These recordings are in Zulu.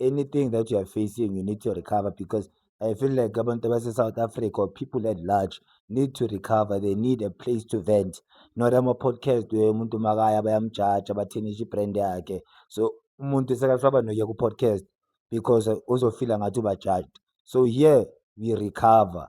anything that you are facing you need to recover because i feel like abantu base-south africa or people at large need to recover they need a place to vent not ama-podcast we umuntu makaya bayamjaja bathinisha ibrand yakhe so umuntu sekasaba nokuya ku-podcast because uzofila ngathi ubajajed so here we recover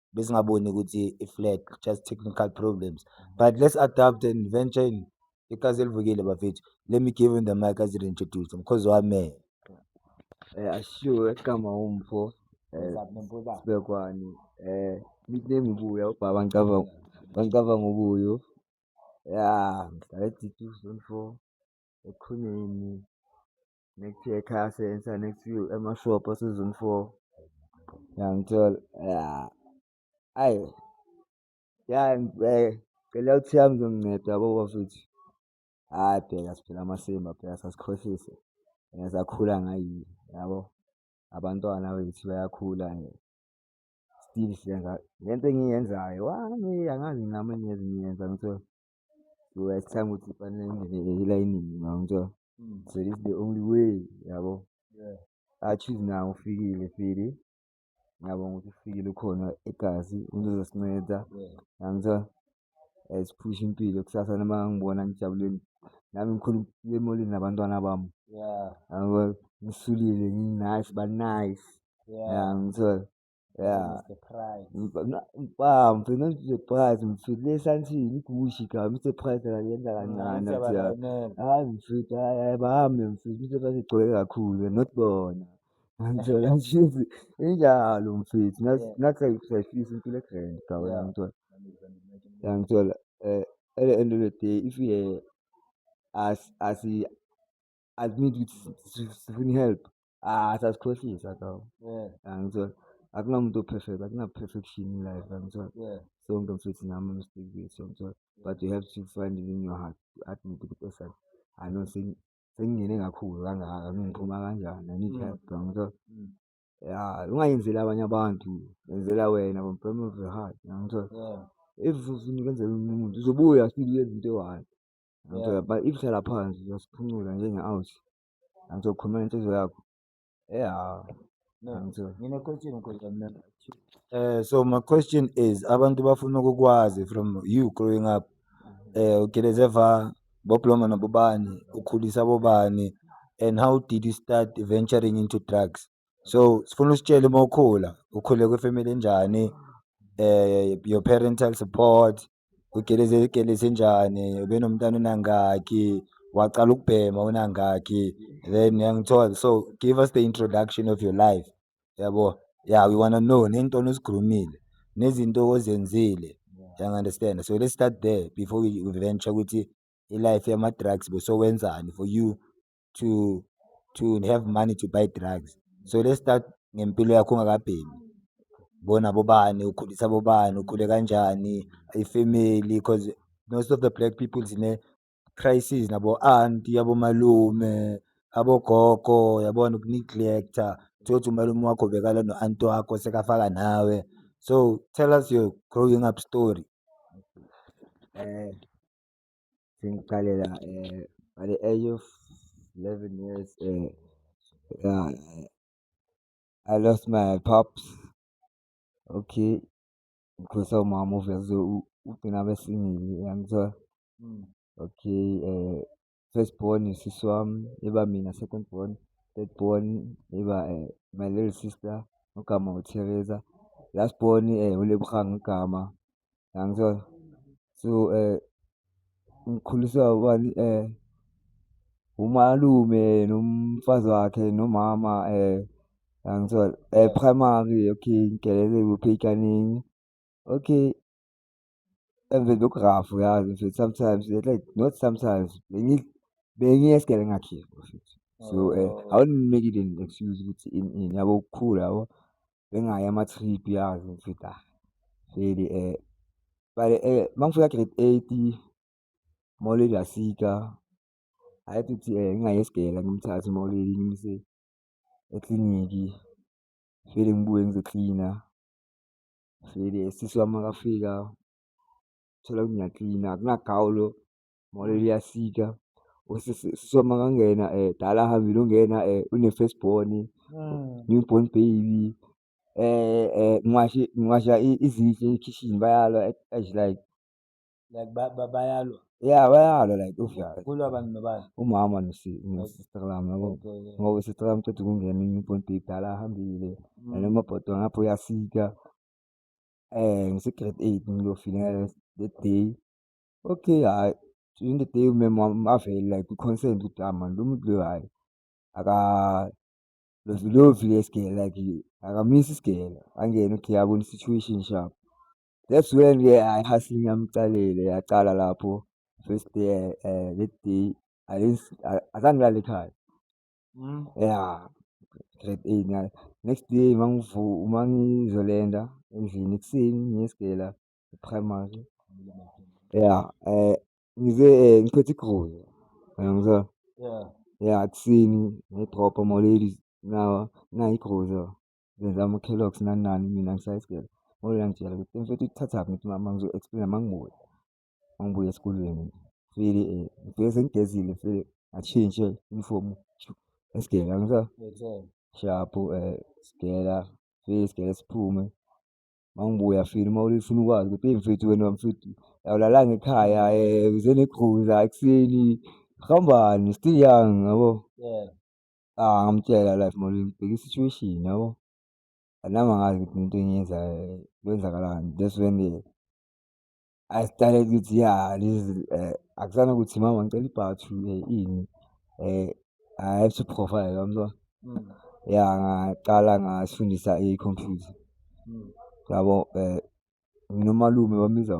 besingaboni ukuthi i-flag just technical problems but let's adapt and venture in ikaze livukile bafethu let me give him the mic as introduce mkhozi wami eh ashiwe kama umpho eh, sibekwani eh nickname ubuya ubaba ngicabanga ngicabanga ubuyo ya ngihlala e-D2 zone four ekhoneni next year ekhaya sensa next few emashop season four yangithola ya ayi ya eh, cela ukuthi yami zonginceda yabo bafethu hhayi bheka siphela amasimba bheka sasikhohlise and sakhula ngayini yabo abantwana bethu bayakhula nje still siyenza lento engiyenzayo wami angazi nami engiyenza ngithiwa uyacanga ukuthi fanele ngingene elayinini ngangitshela mm. so this the only way yabo achieve nawo ufikile fili ngiyabonga ukuthi ufikile ukhona egazi uzozosinceda ngangitshela siphushe impilo kusasa noma ngibona ngijabuleni nami ngikhona ukuya emolini nabantwana bami ngisulile nginice banice ya ngithola Yeah. Mr. Price. Mfam, ngigcina nje price ngifile esantini igushi ga Mr. Price akayenza kancane athi ya. Hayi mfethu hayi hayi bahambe mfethu Mr. Price igcwele kakhulu not bona. Ngithola nje injalo mfethu ngathi sayifisa impilo egrand ga wena ngithola. Ya ngithola eh at the end of the day if you as as admit ukuthi sifuna i-help ah sasikhohlisa ka angithola akunamuntu o-perfect akuna-perfection in life angithola sonke mfethu nami mistake bethu angithola but you have to find it in your heart to admit ukuthi esani i know sengingene kakhulu kangaka ngiphuma kanjani i need mm. help angithola mm. ya ungayenzeli abanye abantu yenzela wena from bottom of your heart angithola if ufuna ukwenzela umuntu uzobuya sibuyela into eyi-one Ngizobaba if uhlala phansi uyasiphuncula njenge-out angizokhulumela inhliziyo yakho ya eh so my question is abantu bafuna ukukwazi from you growing up eh ugeleze va bobloma nabobani ukhulisa bobani and how did you start venturing into drugs so sifuna usitshele uma ukhula ukhule kwifamily enjani eh your parental support ugeleze igeleze enjani ubenomntana unangaki waqala ukubhema unangaki then yangithola so give us the introduction of your life yabo yeah we want to know nento osigrumile nezinto ozenzile yang understand so let's start there before we venture ukuthi i-life yama-drugs besowenzani for you to to have money to buy drugs so let's start ngempilo yakho ungakabhemi bona bobani ukhulisa bobani ukhule kanjani ifamily because most of the black people sine crisis nabo aunt yabo malume abogogo yabona ukuneglecta thothi umalume wakho bekala no aunt wakho sekafaka nawe so tell us your growing up story eh sengiqalela at the age of eleven years ya I lost my pops, okay ngikhuliswa umama uvese ugcina abesingile uyangithola. Okay first born usisi wami iba mina, second born, third born iba my little sister igama uTheresa, last born uLebogang igama. Yangithola? So ngikhuliswa ubani umalume nomfazi wakhe nomama yangithola? Primary okay ngidlele kuphi ey'kanini okay emveni koku-rough uyazi mfethu sometimes not sometimes bengiye esigele ngingakhiye bafethu. So awuniniki-ke excuse ukuthi ini ini yabo ukukhula yabo. bengayi ama-trip yazi ngithi ah vele um but um mangifika grade eight uMauleli wasika I had to thi um ngingayi esgele ngimthathe uMauleli ngimyise ekliniki ngivele ngibuye ngizoklina vele sisi wami makafika thola ngiyaklina akunagawulo molo liyasika usisoma kangena um eh, dala ahambile ungena um eh, une-first born hmm. new born baby um um ngiwashe ngiwasha izitshe ekhishini bayalwa as like like bayalwa ya bayalwa like kulwa abantu nobani umama nosister lami yabo ngoba usister lami qeda ukungena i-new born baby dala ahambile hmm. and umabhodo ngapho uyasika um ngise-grade eight ngiyofika that day Okay, hhayi during the day umeme wami avele like kwi-concern ukuthi ah mani lo muntu lo hhayi akalovilovi le sigele like akamisi isigele angene okay abone i-situation sharp. That's when ke hhayi i-hustling yami iqalile yaqala lapho first day um that day azange ngilale ekhaya. Mm. Yeah, grade eight next day uma ngizolenda endlini ekuseni ngiye esigela primary ya um ngize um ngiphethe igoli yangizwa ya kuseni ngidropha moladies nawa nayi igoli ngenza ama-calox nani nani mina ngisayisgele ngole yangitshela ukuthi mfethu ikuthathaphi ngithi mama ngizo-explaina uma ngibuya uma ngibuya esikolweni ngifike um ngifike sengigezile ngifike ngashintshe uniform esigele yangizwa shaphu um sigela fike sigele siphume mangibuya fini uma ulifuna ukwazi ukuthi eyi mfethu wena mfethu awulalanga ekhaya eh, uze negquza ekuseni hambani still young yabo yeah. ah ngamtshela life mali ngibheka i-situation yabo anami angazi ukuthi into engiyenzayo kwenzakalani that's when the I started ukuthi ya lezi eh, akusana ukuthi mama ngicela ibhathu eh, ini eh I have to profile yamzwa mm. ya ngaqala ngasifundisa i-computer mm. yabo eh nginomalume bamiza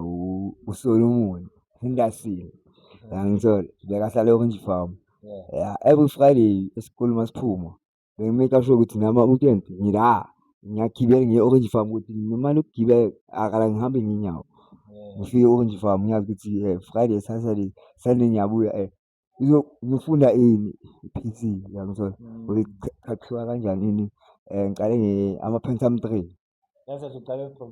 uSolomon Henderson yangithola bekahlala e-Orange Farm yeah every Friday esikhuluma siphuma Bengi-make sure ukuthi nami ama-weekend ngila, ngiyagibela ngiye e-Orange Farm ukuthi ngimane ukugibela akala ngihambe ngenyawo. Ngifike e-Orange Farm ngiyazi ukuthi um Friday, Saturday, Sunday ngiyabuya um ngifunda ini, i-P_C uyangithola? Ukuthi qhaqhiwa kanjani ini, um ngiqale ama-Pentium three. Ngase usuqale from.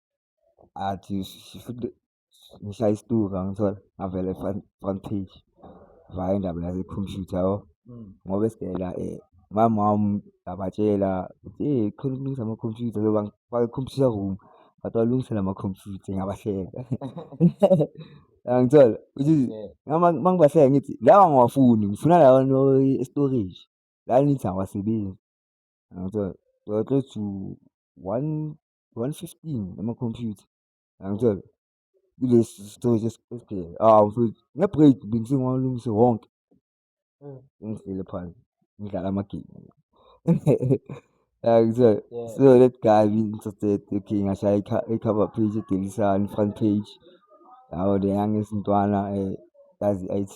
athi futhi ngishaya isituka ngithola ngavele front front page vaya indaba yase-computer yabo mm. ngoba esidela um eh, mama wami ngabatshela ukuthi eyi khona ukulungisa ama-computer so bangifake i-computer room but walungisela ama-computer ngabahleka angithola ukuthi uma ngibahleka ngithi lawa ngiwafuni ngifuna lawa e-storage la nithi awasebenzi angithola so close to one 115 ama computer angitshela kulesi story esibheke ah mfethu nge break bengisengawalungise wonke mm. ngihlele phansi ngidlala ama game angitshela so that guy interested okay ngashaya i cover page edelisani front page yawo le yangesintwana eh kazi IT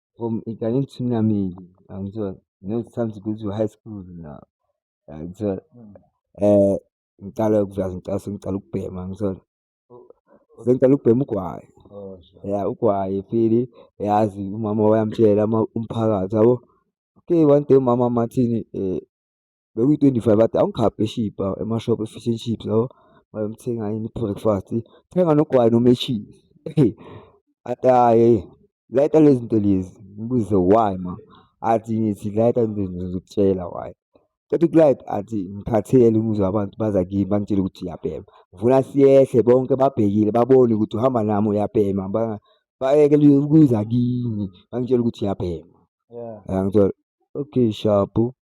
from Italian to Namili. And so, you know, it's time to go to high school now. And so, eh, ngiqala ukuzazi ngicela sengiqala ukubhema ngisona sengiqala ukubhema ugwayi oh, ya ugwayi fili yazi umama wayamtshela umphakathi yabo okay one day umama mathini um eh, bekuyi-twenty-five athi awungikhaphe eshibhi awu emashophu e-fish and chips lawo wayomthenga yini i-breakfast thenga nogwayi noma e-cheese eyi athi hhayi layita lezi zinto lezi ngibuze why ma athi ngithi layita lezi zinto ngizokutshela why Cela ukulike athi ngikhathele ngizwa abantu baza kimi bangitshele ukuthi uyabhema. Ngifuna siyehle bonke babhekile babone ukuthi uhamba nami uyabhema bayeke ukuza kimi bangitshele ukuthi uyabhema. Yeah. Yangithola okay shabu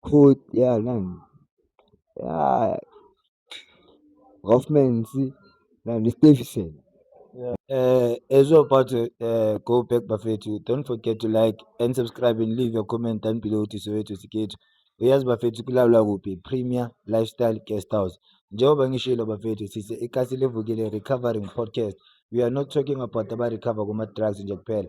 Court ya nani ya Roffmans nani Stevison. Yeah. Uh, as you're about to uh, go back bafethu don't forget to like and subscribe and leave your comment down below to soweto sikethu uyazi bafethu kulawula kuphi premier lifestyle guest house njengoba ngishilo bafethu sise ikasi levukile recovering podcast we are not talking about abarecover kuma-drugs nje kuphela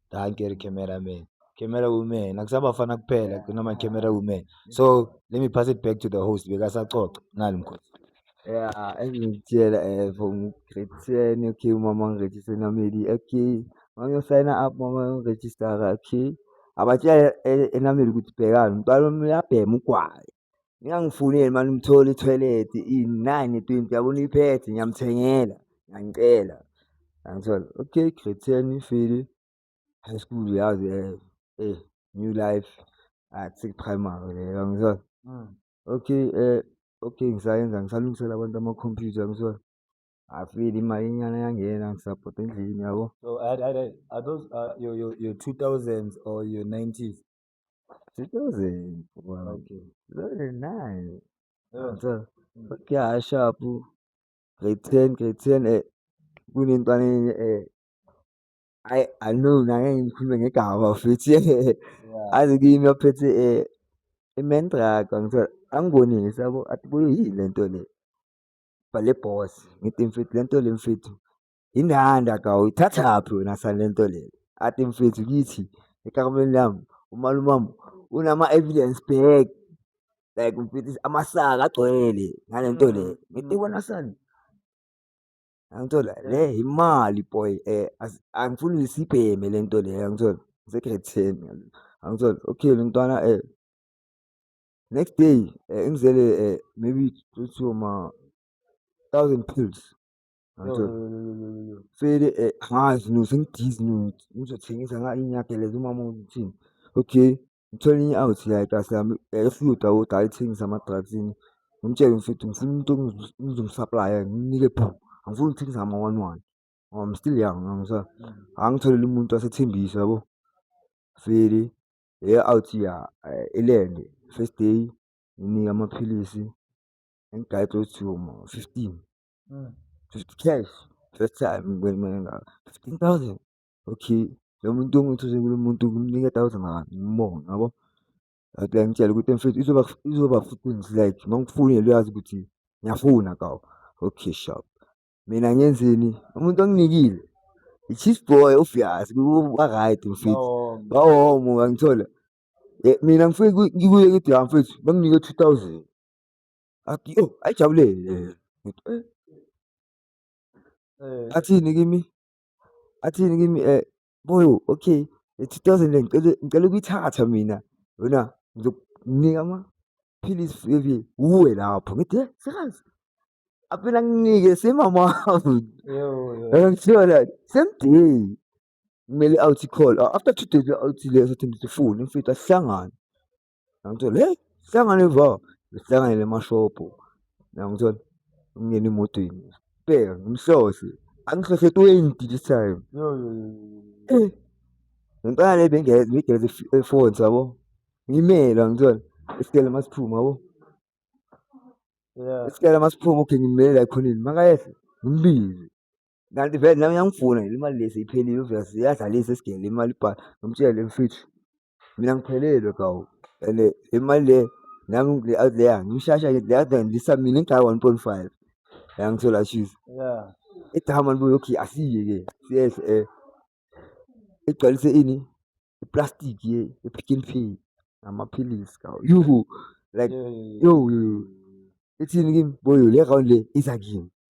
Dankie ri camera man. Camera woman akusaba fana kuphela kunama camera woman. So let me pass it back to the host bekasaxoxa nali mkhosi. Yeah, engitshela eh from grade 10 okay mama ngiregister nameli okay. Mangiyosayina up mama ngiregister okay. Abatshela eh, enameli ukuthi bhekani umntwana wami uyabhema ugwayi. Ningangifuneli mani umthole i-toilet iyi-nine twenty yabona iphethe ngiyamthengela ngiyangicela ngangithola okay grade ten ifile high school yazi eh new life athi ah, primary leyo yangithola mm. okay eh okay ngisayenza ngisalungisela abantu amakhompyutha yangithola afile imali inyana yangena ngisabhoda endlini yabo so are those uh, your, your, your 2000s or your 90s 2000 wow. okay. 2009 yeah. so yeah sharp grade 10 grade 10 eh kunentwana eh I I know na ngikhuluma ngegama futhi yeah. azi kimi ophethe eh imen drug ngithola angibonile sabo athi kuyini lento le bale boss ngithi mfethu lento le mfethu Indanda ka uyithathaphi wena sanento le ati mfethu kithi ekakumeni lami umalume wami unama-evidence bag like mfethu amasaka agcwele ngale nto le mm. ngithi wena sani angithola le imali boy eh angifuni uyisibheme le nto le angithola ngisegrade ten angithola okay le ntwana eh next day eh, ingizele eh, maybe two two ma thousand pills Fede eh, angazi no sengidizi no ngizothengisa nga inyageleza umama uthini okay ngithole i out like asami efluda ukuthi ayithengisa ama-drugs ini ngimtshele mfethu ngifuna umuntu ngizomsaplaya nginike phu angifuni ukuthengisa ama-one one ngoba I'm still young ngisa angitholele umuntu asethembisa yabo Fede eya out ya eh, elende first day nginika amaphilisi engigayide ukuthi yoma 15 Mm. Just cash. First time ngibona imali engaka. 15,000. Okay. Lo muntu ongithuze kulo muntu kumnika 1000 rand. Ngibonga yabo. Athi angitshela ukuthi mfethu izoba izoba futhi like mangifonela uyazi ukuthi ngiyafuna kawo. Okay shop. Mina ngenzeni? Umuntu onginikile. I-cheese boy ufiyazi ba-right mfethu. Bawomo ngangithola. Eh, mina ngifike ngikuye ngithi ya mfethu banginike 2000. athi oh ayijabulele ngithi eh, eh. athini kimi athini kimi eh boy okay 2000 ngicela ngicela ukuyithatha mina yona ngizokunika ama philisi fike uwe lapho ngithi eh sekazi apela nginike semama ngangithola same day kumele awuthi call after two days awuthi leso thembi sifune mfethu asihlangane Yangithola hey hlangane va sihlanganele emashophu yangithola umyeni emotweni bheka ngimhlose angihlose 20 this time eh ngempela le bengigeze efoni sabo ngimele yangithola isikele masiphuma yabo isikele masiphuma okay ngimele la ekhoneni makayehla ngimbize Kanti vele nami yangifuna le mali lesi iphelile uvela siyadlalisa esigele le mali ibhala ngimtshele mfethu mina ngiphelelwe kawu and le mali le nami le out there ngimshasha le out there ngilisa mina ngigaya 1.5 la ngithola cheese yeah igama libuye okay asiye ke siyehle eh igcwalise ini iplastic ye ipick and pay amaphilisi kawu yuhu like yo yo ithini kimi boyo le round le isa kimi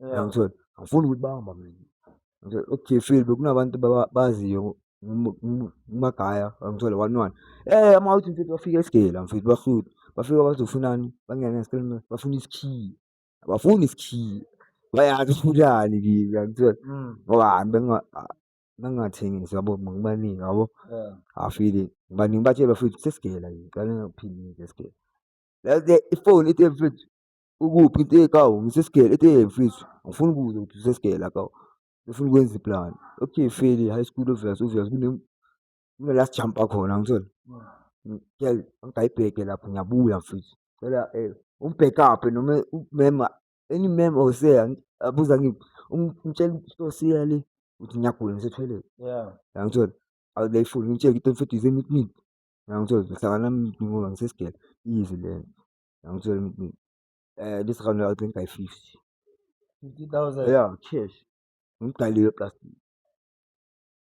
Yangithola. Angifuni ukuthi bamba mina. Ngithola ekujefile bekunabantu baziyo umagaya angithola one one. Eh ama uthi mfethu bafika esigela mfethu bafika bafika bazofunani bangena ngesikhathi bafuna isikhiye. Abafuni isikhiye. Bayazi ufunani kimi angithola. Mm. Ngoba benga bangathengisi yabo ngibaningi yabo afile ngibaningi batshela futhi sesigela ngicela ngiphinde ngesigela ifoni ithi mfethu ukuphi into ekawu ngisesigele into eyemfisi ngifuna ukubuza ukuthi usesigele akawu ngifuna ukwenza iplani okay feli high school obvious obvious kunala sijampa khona ngithole ngiyayibheke lapho ngiyabuya mfisi cela um ungibhekaphe noma umema any mem or sir abuza ngiphi ngitshela isitosiya le ukuthi ngiyagula ngisethwelele yangithole awulayifuni ngitshele ukuthi mfethu ize meet me yangithole ngihlangana ngoba ngisesigele easy lento Ngangitshela ukuthi eh this round I'll drink by 50. 50,000. Yeah, cash. Ngidaliwe plus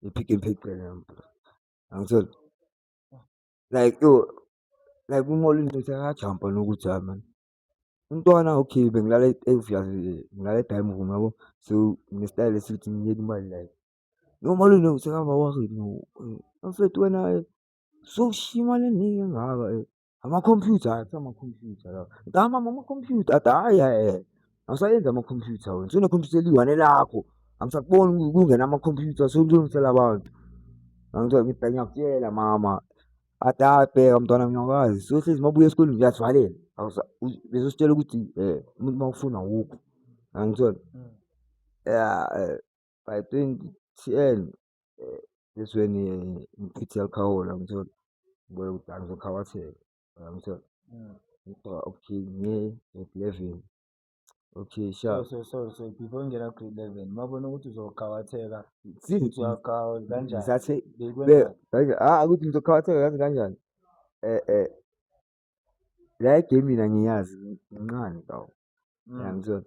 ipick and pay cela yami. Angithola. Like yo like umolo into sekajumpa nokuthi hayi man. Umntwana okay bengilala eziyazi ngilala e-dining room yabo. So nestyle esithi ngiyeka imali like. Yo molo no sekaba worried no. Mfethu wena so shimali eningi engaka. Amakhompyutha hayi kuthiwa amakhompyutha lawa. Ngithi hayi mama amakhompyutha athi hhayi hhayi awusayenzi amakhompyutha wena senekhompyutha eliyi-one lakho angisakuboni ku- kungena amakhompyutha sewulungisela abantu. Angithiwa ngithi ngiyakutshela mama athi hhayi bheka mntwana ngiyakwazi sohlezi uma ubuya esikoleni ngiyazivalela Awusa- u- bezositshela ukuthi um umuntu uma ufuna awukho angithola ya um by twenty ten that's when ngichithe alcohol angitholi ngibuye kudala ngizokhawatheka uyangithola ngigqoka okay ngiye grade eleven okay sha so so so before ngingena grade eleven mabona ukuthi uzokhawatheka futhi uyakhawa kanjani ngisathe bekwenza ah ukuthi ngizokhawatheka yazi kanjani eh eh la igame mina ngiyazi ngincane kawu uyangithola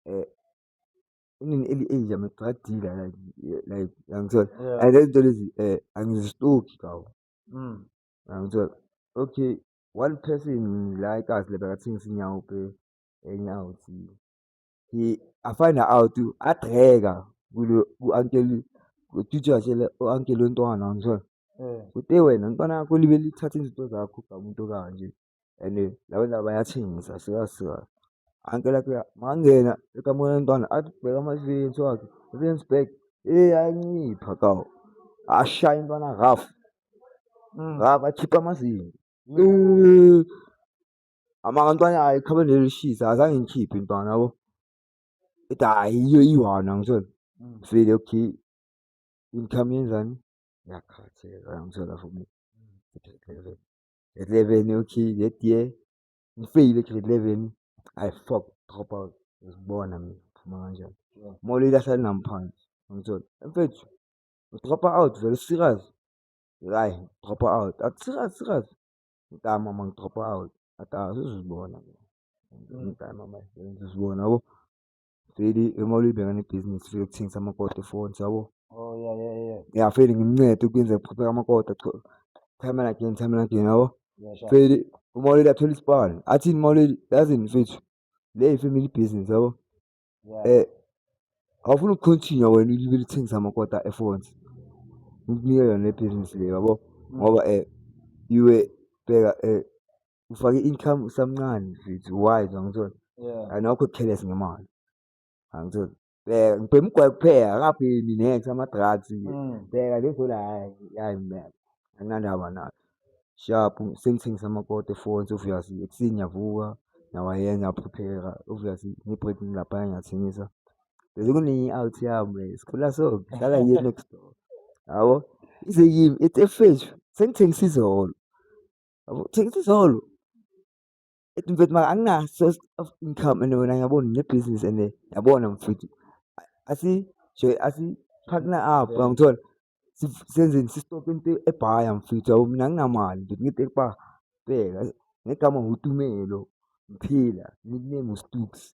eh inini eli-age yami kuqadile like like yangithola Yeah. and lezi nto lezi um angizistoki kawo Mm. yangithola okay one person la ekazi le bekathengisa inyawo pe enye out he afind out adreka kulo ku-ankeli kutitsha shele u-ankeli ontwana ngithola Eh. kute wena ntwana yakho libe lithatha izinto zakho gamuntu kanje and laba ndaba bayathengisa sikazi sikazi anke lakhe mangena ekamukela umntwana athi bheka ama-experience wakhe experience back eyi ayancipha kawo ashaya intwana raf raf akhipha amazinyo amantwana ayo ikhabe nelishisa azange ngikhiphe intwana yabo ithi hayi yiyo iwana ngithole sibile okay income yenzani yakhatheka ngithole la for me grade 11 okay that year ngifeyile grade 11 i fuck drop out uzibona mina phuma kanjani molo ilahla linamphansi ngithola mfethu udropa out vele serious hayi udropa out athi serious serious ngitama uma ngidropa out athi azizibona mina ngitama manje uzibona yabo Feli uma ulibheka nebhizinisi lokuthengisa amakoti efonts yabo. Oh yeah yeah yeah. Yeah Feli ngimncede ukwenza ukuphupha amakoti cha. Time and again, time and again yabo. Yeah sure. Feli uma uleli athola isibani. Athini uma uleli yazini mfethu. Le yi-family business yabo. Yeah. Eh awufuni ukucontinue wena ulibele uthengisa amakoti efonts. Ngikunike yona le business le yabo. Ngoba eh iwe bheka eh ufake income usamncane mfethu wise angitholi yeah and awukho careless ngemali angitholi bheka ngibhema ugwayi kuphela akaphemi nex ama-drugs Mm. bheka lezo la hayi hayi mina anginandaba nayo sharp sengithengisa amakoto efonsi obviously ekuseni ngiyavuka nawaye ngiyaphupheka obviously ngi-break ngilapha ngiyathengisa bese kunenye i-out yami sikhula so ngihlala yiye next door yabo ize yimi it's a fish sengithengisa izolo Yabo, thengisa isitolo. Ethi mfethu maka anginaso source of income and wena ngiyabona nginebhizinisi and yabona mfethu asi nje asi partner up Yeah. ngangithola Sif- senzeni sisitope into ebhaya mfethu yabo mina anginamali mfethu ngithi kuba bheka ngegama ngutumelo mphila nickname ustuks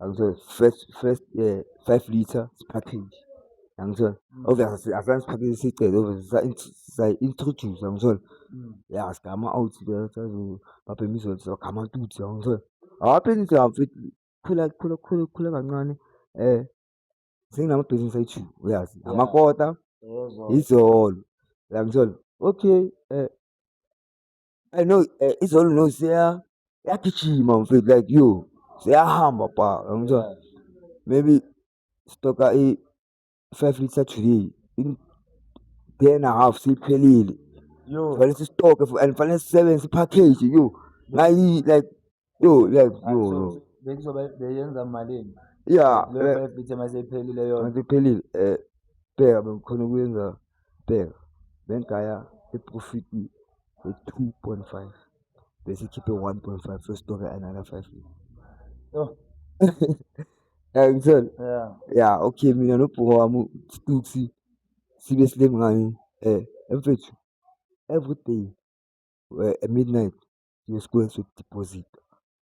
Yangithola first first eh 5 liter package. Yangithola. Mm. Obviously asana package sicela obviously sa introduce yangithola. Mm. Yeah, sigama out there sazo baphe imizothi sagama tuthi yangithola. Hape nje afiki khula khula khula khula kancane eh senginamabhizinisi ayi-two uyazi amakota izolo yangithola okay um I know eh, izolo no seya yagijima mfethu like yo seyahamba pa ngizwa maybe stoka i 5 liter today in day and a half siphelile yo fanele sistoke fu- and fanele sisebenze package yo ngayi like Yo, yes, Ah, yo, so yo. bekuzobe beyenza malini Yeah, leyo eh, five bithe maseyiphelile yona manje iphelile. Eh, bheka bengikhona ukuyenza bheka. Bengigaya iprofit ye-2.5 bese ikhiphe 1.5 so stoke another 5. Yo, Yeah, ngitshela. yeah Yeah, okay mina nobhuka wami uStuxi sibe silengane eh emfethu every day eh, at midnight ngesikweni sokudiphozitha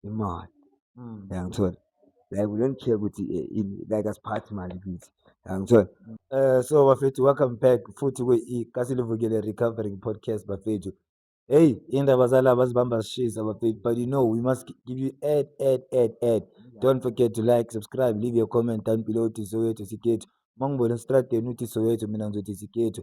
imali mm. yangithola like we don't care ukuthi eh, ini like asiphathi imali kithi yangithola mm. eh so bafethu welcome back futhi kwe-kasilivukele recovering podcast bafethu Hey, indaba zalaba zibamba zishisa bafethu but you know we must give you ad ad ad ad. Don't forget to like, subscribe, leave your comment down below uthi Soweto sikhethu. Uma ngibona estradeni uthi Soweto mina ngizothi sikhethu.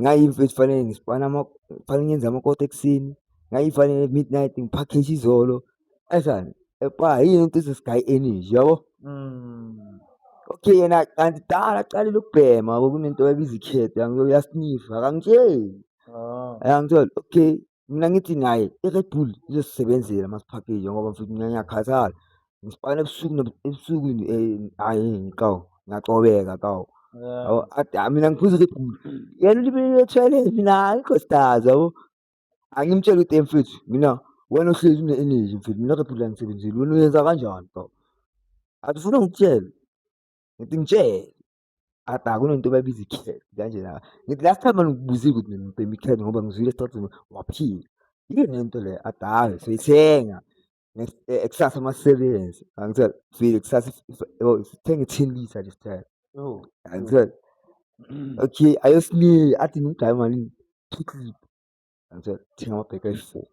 ngayimfethu kufanele ngisipana kufanele ngenze amakota ekuseni ngayifanele midnight ngiphakheje izolo esani epa yini into sesigayi energy yabo mm. okay yena kanti dala aqalile ukubhema kunento ebiza ikhetha yasinifa akangitsheli ah. yangithola okay Mina ngithi naye i-Red Bull izosisebenzela masiphakile ngoba mfethu mina ngiyakhathala. Ngisipakela ebusuku ebusuku hhayi ngixawu ngiyacobeka kawu. Yabo mina ngiphuza i-Red Bull. Yena ulibele ethweleni mina hhayi ikhositazi yabo. Angimtshele ukuthi mfethu mina wena ohlezi une-energy mfethu mina Red Bull angisebenzeli wena uyenza kanjani kawu. Athi ufuna ngikutshele ngithi ngitshele. akunento babiza i-cat kanje la ngithi last time angikubuzile ukuthi mina ngibhema i-cat ngoba ngizwile esicacini waphila yini lento le adawe soyithenga eh, kusasa amasebenzi angitshela file kusasa sithenga i-ten litre this time oh, angitshela mm. okay ayosinika athi ngimgaye malini two clip angitshela thenga amabheka ayi-four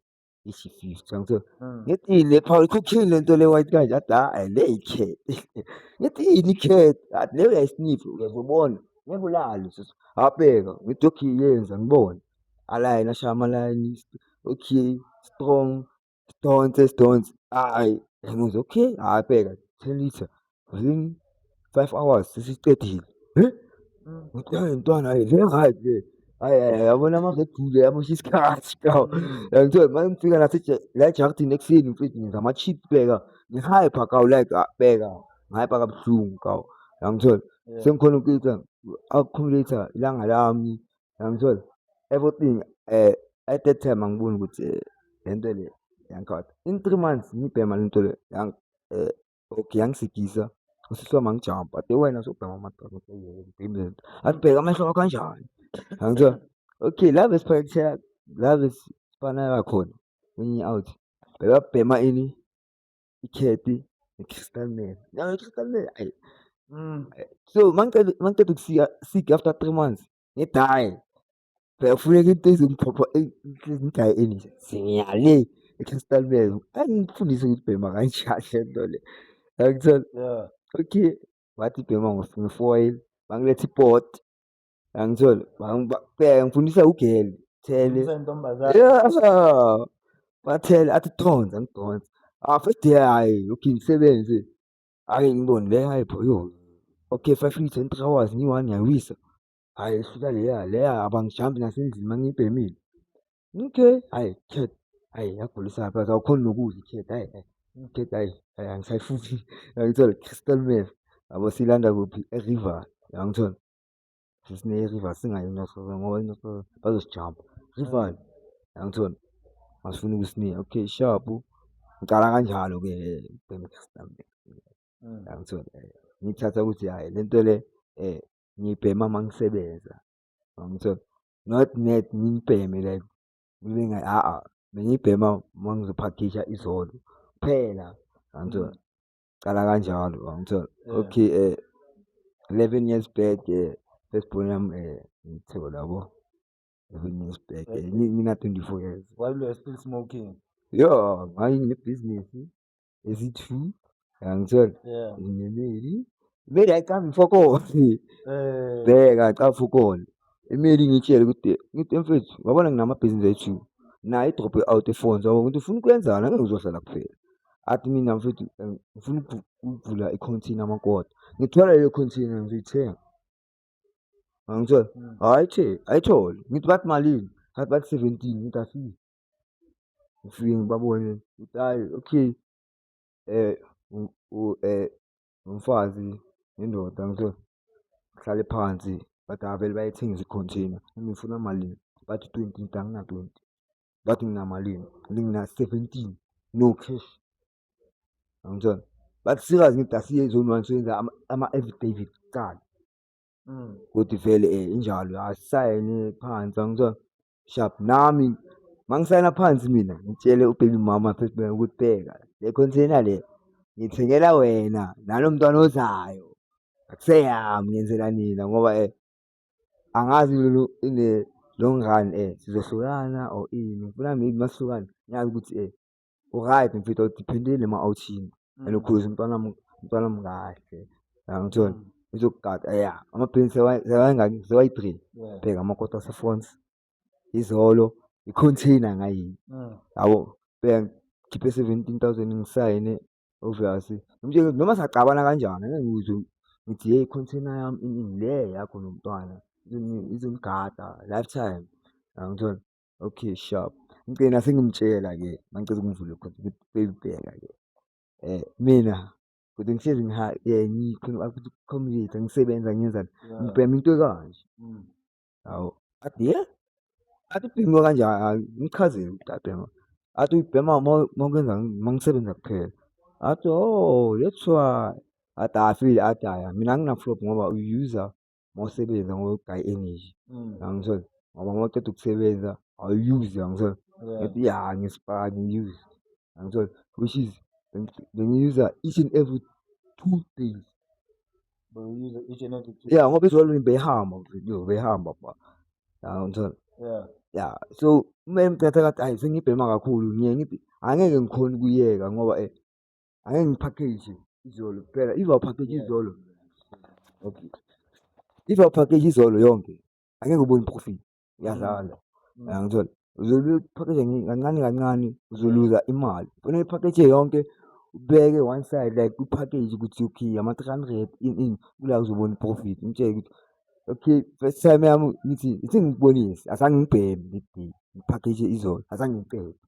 isifiso ngithe mm. ngithi yini le power ikhokhile lento le white kanje athi ha ah, le icat ngithi yini icat athi leyo uyayisniff uyazobona ngeke ulale sisi abheka ngithi okay yenza ngibone alayini ashaya amalayini okay strong sidonse sidonse hayi ngithi okay hhayi bheka ten litre zing five hours sesicedile ngithanda intwana ayi le right le ayi ayi yabona uma ngedule yamosha isikhathi kawo ngithiwe uma ngifika nase la ejaktini ekuseni mfethu ngenza ama-chip beka ngihype kawo like ah, beka ngihype kabuhlungu kawo yangithola sengikhona ukuyitha accumulator ilanga lami yangithola everything um at that time angiboni ukuthi um le nto le yangikhatha in three months ngibhema le nto le um Okay, yangisigisa usisi wami angijampa ade wena sokubhema amadoda ngibhemile akubheke amehlo wakho kanjani angithiwa okay la besiphakethela la besifanela khona wenye out bebabhema ini ikheti ne-crystal nail nayo i-crystal nail ayi mm. so mangiceda ukusika sik after three months ngidaye Kuyafuneka into ezimphopho ezingayi endle zingiyale ekhastalibeni angifundise ukuthi bhema kanjani le nto le yangithola okay wathi bhema ngefoil bangiletha ipoti yangithola ngifundisa ugeli thele bathele athi thonza ngidonsa ah first day hayi okay ngisebenze ake ngibone le hayi bhoyo okay five minutes and three hours ngiyi-one ngiyawisa Hhayi ihluka leya leya abangijampi nasendlini uma ngiyibhemile. Okay, hhayi Khet, hhayi yagulisa ngapha awukhoni nokudla iKhet, hhayi hhayi iKhet hhayi hhayi angisayifuni yangithola Crystal Meth yabo siyilanda kuphi e-River yangithola. Sesine-River singayi eNorth River ngoba iNorth River bazosijampa. River yangithola masifuna ukusinika okay sharp ngicala kanjalo-ke ubhema i-Crystal Meth yangithola ngiyithatha ukuthi hhayi le nto le um ngibhema uma ngisebenza ngangithola not net ngibheme like ngibe ngathi a-a bengibhema uma ngizophakisha izolo kuphela ngangithola cala kanjalo ngangithola okay um eleven years back um first born yami um ngithiwe labo eleven years back um ngina-twenty four years while you were still smoking yho ngayinebhizinisi Is it true? Angitshela. Yeah. Ngemeli. Imeli ayicambi mfokoni. Eh. Bheka acafa ukona. Imeli ngitshele ukuthi ngithi mfethu wabona nginamabhizinisi ethu. Naye idrop out efonza wabona ukuthi ufuna ukwenzana ngeke uzohlala kuphela. Athi mina mfethu eh, ngifuna ukuvula i-container amakota. Ngithola leyo container ngiyithenga. Angitshela. Hmm. Hayi che, ayithole. Ngithi bathi malini? Hayi bathi 17 ngithi afiki. ngifike ngibabone ukuthi hhayi okay umfazi nendoda ngiyithole ihlale phansi but avele bayithengise i-container noma ifuna malini bathi twenty ngithi angina-twenty bathi nginamalini ngithi ngina-seventeen no cash angitshela bathi sikaze ngithi asiye e-zone one siyoyenza ama-affidavit kuqala kodwa vele injalo asayine phansi angitshela. shap nami mangisayina phansi mina ngitshele ubaby mama first man ukuthi bheka le container le ngithengela wena nalo mntwana ozayo akuseyami ngenzela nina ngoba eh angazi lolu ine long run eh sizohlukana or ini ngifuna maybe masihlukana ngiyazi ukuthi eh uright ngifitha ukuthi phindile ma awuthini and ukhuza umntwana umntwana mkahle yangithola izokugada ya amaphini sewayengaki sewayi-three bheka amakota asefons izolo i-container ngayini yabo bheka ngikhiphe seventeen thousand ngisayine obvious ngimtshele noma sacabana kanjani ngikuzo ngithi yeyi i-container yami iningi le yakho nomntwana izonigada lifetime yangithola Okay sharp. Ngicela sengimtshela ke mangicela ukungivula khona ukuthi beyibheka ke. Eh mina kodwa ngihlezi ngiha eh ngikhona ukuthi community ngisebenza ngenzani. Ngibhema into ekanje. Mm. Hawu. Athi yeah. Athi ubhema kanjani? Ngichazile ukuthi abhema. Athi ubhema mawukwenza mangisebenza kuphela. Athi oh that's why. Athi afile athi mina nginaflop ngoba uyuza mawusebenza ngogayi energy yangithola ngoba mawuceda ukusebenza awuyuse yangithola ngathi ya ngisipaka ngiyuse yangithola which is bengiyuza each and every two days ya ngoba izolo beyihamba yo beyihamba ba yangithola ya so uma emthatha kathi ayi sengibhema kakhulu ngiye ngithi angeke ngikhona ukuyeka ngoba um Angeke ngiphakheje izolo kuphela. If awuphakheje izolo. Okay. If awuphakheje izolo yonke. Angeke ubone profit. Uyadlala. Mm. Uyangithola. Uzoluphakheje kancane kancane uzoluza imali. Kufanele uphakheje yonke ubeke one side like uphakheje ukuthi okay ama-300 in in kula uzobona profit. Umtshele ukuthi okay first time yami ngithi ngithi ngikubonise azange ngibheme le day ngiphakheje izolo azange ngiqede.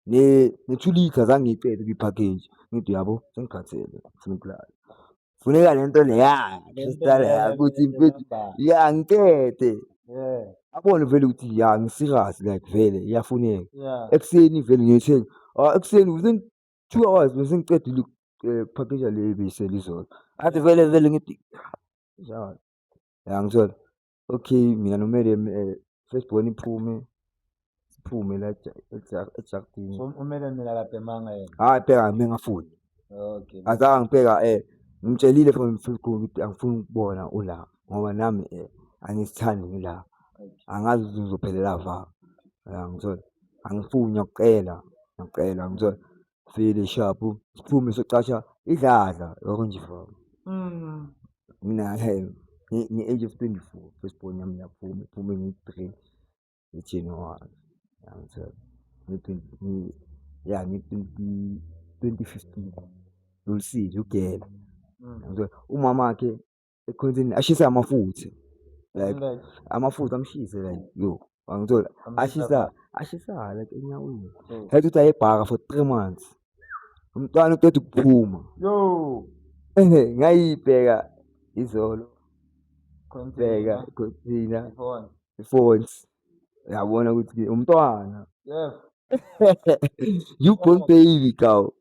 ne-two litre zange ngiyicele kwi-package ngithi uyabo sengikhathele ngifuna ukulala funeka le nto leya sesitaleya ukuthi mfethu ya ngicede abone vele ukuthi ya ngisirasi like vele iyafuneka ekuseni vele ngiyothenga ah, ekuseni within two hours bese ngicedile eh, ukuphakeja le bese lizolo athi vele vele ngithi njalo ya ngithola Okay, mina nomele eh, first born iphume siphume la ejakini So umele mina lapha emanga yena. hayi bheka mina ngafuni Okay. azange ngibheka eh ngimtshelile from first born ukuthi angifuni ukubona ula ngoba nami eh angisithandi ngila angazi ukuthi ngizophelela va ngithola angifuni ngiyakucela ngiyakucela ngithola vele shapu siphume socasha idladla yoko nje fam Mm. mina he nge- nge-age of 24 first born yami yaphuma iphume nge-three nge-january yangithola Nge-twenty- nge- ya nge-twenty- 2015 lulisile ugela Mm. Yangithola? umama wakhe ekhonzini ashise amafutha like amafutha amshise like yo angithola ashisa ashisa like enyaweni hayi ukuthi ayebhaka for three months umntwana uqeda ukuphuma yo ehe ngayibheka izolo bheka khonzina ifonts yabona ukuthi umntwana yes you born baby cow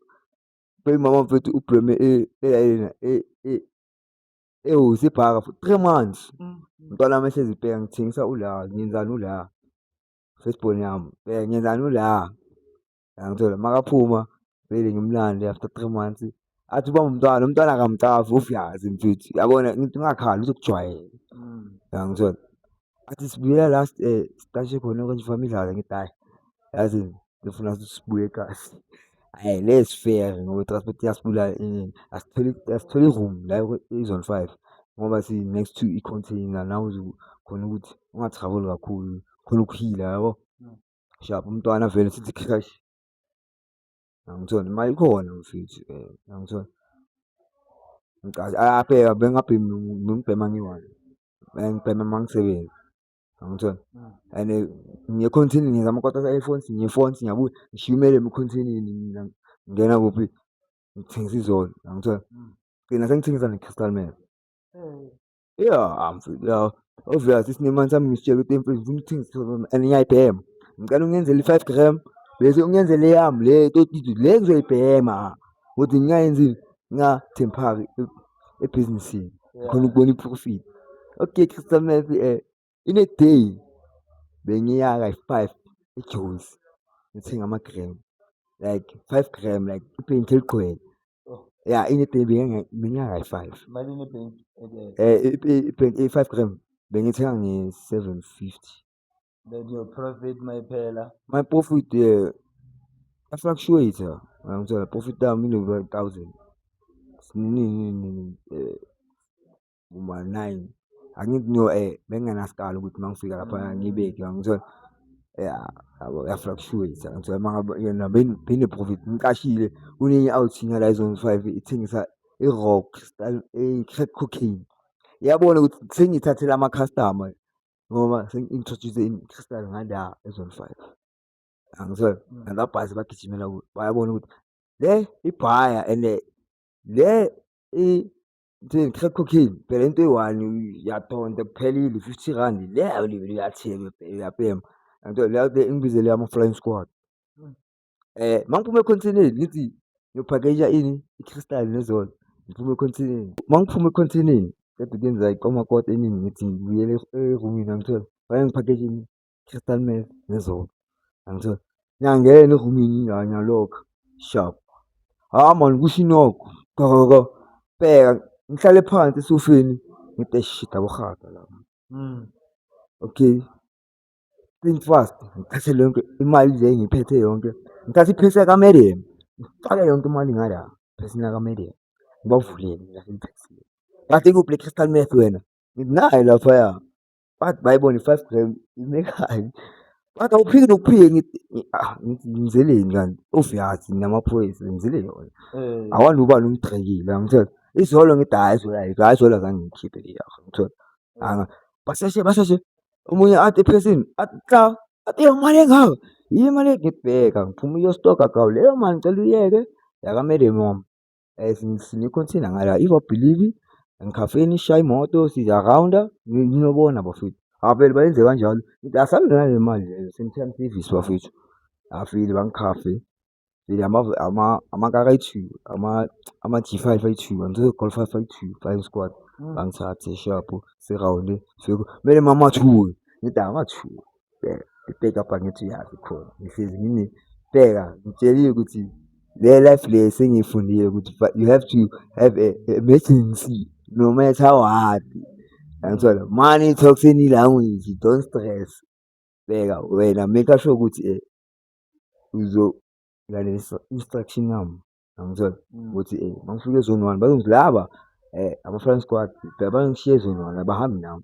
baby mama mfethu ublome elayena eh, eh, eh, Ewu isibhaka for three months. Mm. Mntwana wami ehlezi bheka ngithengisa ula, ngenzani ula. Firstborn yami, bheka ngenzani ula. Yangithola makaphuma vele ngimlande after three months. Athi ubamba umntwana, umntwana akamcavi uVyazi mfethu. Yabona ngithi ungakhali uzokujwayela. Mm. Yangithola. Athi sibuyela la siqashe khona okanye ufake imidlalo ngithi hhayi yazi ngifuna ukuthi sibuye ekhaya. Hhayi lezi feya ngoba i-transport iyasibulala asitholi asitholi room la kwi-zone five ngoba si-next to i-container la khona ukuthi unga-travel kakhulu khona ukuhila yabo. Sharp umntwana avele sithi . Angithoni imali ikhona mfethu eh angithoni. Ngicathi abheka bengabhemi ngibhema ngiyi-one. Bengibhema mangisebenzi. Angithoni. And ngiye continue ngiyenza amakota ase-iPhones ngiye ePhones ngiyabuya ngishiya umele continue mina ngingena kuphi ngithengisa izolo angithoni. Ngigcina sengithengisa ne-crystal meth. Yeah, mfethu ya obvious isinemani sami ngisitshela ukuthi mfethu ngifuna ukuthenga isikhwama and ngiyayibhema. Ngicela ungenzele i-five gram bese ungenzele eyami le totito le ngizoyibhema ukuthi ngingayenzini ngingathempaki ebhizinisini ngikhona ukubona i-profit. Okay Crystal Meth um In a day bengiya kayi-five eJones ngithenga ama-gram like five gram like ibhenki eligcwele. Oh. Ya in a day bengiya kayi-five. Malini ibhenki? Eh, ibhenki i-five gram bengithenga nge-seven fifty. Then your profit mayiphela? My profit um afluctuate-a ngangithola profit yami inokuba thousand. Nini nini nini um. uma nayi angithi ngiyo um eh, bengingenasikalo ukuthi uma ngifika lapha mm. ngibeke ngithola ya yabo yafluctuate ngithola uma ngabe yona bene-profit ngiqashile kunenye awuthinga la izone five ithengisa i-rock i-crack eh, cocaine yabona ukuthi sengiyithathela ama-customer ngoba sengi-introduce i-crystal ngala ezone five angizwela mm. nalabhazi bagijimela bayabona ukuthi le ibhaya and le Ngithini crack cocaine phela into eyi-one uyathonta kuphelile fifty rand le uyatheka uyabhema yangithola leyo le engibizele ama-flying squad. Um mangiphuma ekhontheni ngithi ngiyophakeyisha ini i-crystal nezolo ngiphume ekhontheni. Mangiphuma ekhontheni qeda ukuyenzeka ikomakoti eningi ngithi ngibuyele erumini yangithola fanele ngiphakeyishe ini Crystal Meth nezolo. Angithola. Ngiyangena erumini nje ngiyalokha. Sharp. Hawu mani kusho inokho. Qhaqhaqha. Bheka ngihlale phansi esofeni ngithi eish shit aborhaga la. Okay. Think fast. Ngithathe le yonke imali nje engiyiphethe yonke. Ngithathe iphesi yakaMedium. Ngifake yonke imali ngala ephesini lakaMedium. Ngibavulele ngilahla iphesi. Ngathi ikuphi le Crystal Meth wena? Ngithi nayo laphaya. bathi bayibone i-five gram ime kanye bathi awuphiki nokuphike ngithi ah, ngithi ngizeleni kanti of yazi namaphoyisa ngizile yona Eh, awani ubani ungigxekile angithola izolo ngithi hayi zola yikho hayi zola zange ngikhiphe iyakho ngithola anga basheshe basheshe omunye athi ephesini athi xa athi iyo mali engaka yiyo imali engibheka ngiphuma uyostoka gawu leyo mali ngicela uyeke yakamele mom Eh, sinikho nithina ngala if i believe engikhafeni sishaye imoto siyarounda ninobona bafethu avele bayenze kanjalo asabe nale mali leyo same-time service bafethu afile bangikhafe vele amakaka ayi-two ama-g five ayi-two angizoyi-call five ayi-two five squad hmm. bangithathe shapho sirawunde kumele mamathuke ngithi angathuki bheka ibheka apha ngithi uyazi khona ngihlezi ngini bheka ngitsheliwe ukuthi le life le sengiyifundile ukuthi you have to have a emergency no matter what yangithola money talks any language don't stress bheka wena make sure ukuthi eh, uzo lalela instruction yami yangithola mm. ukuthi eh mangifika ezone one bazongilaba eh ama-flying squad bheka bangishiye ezone one abahambi nami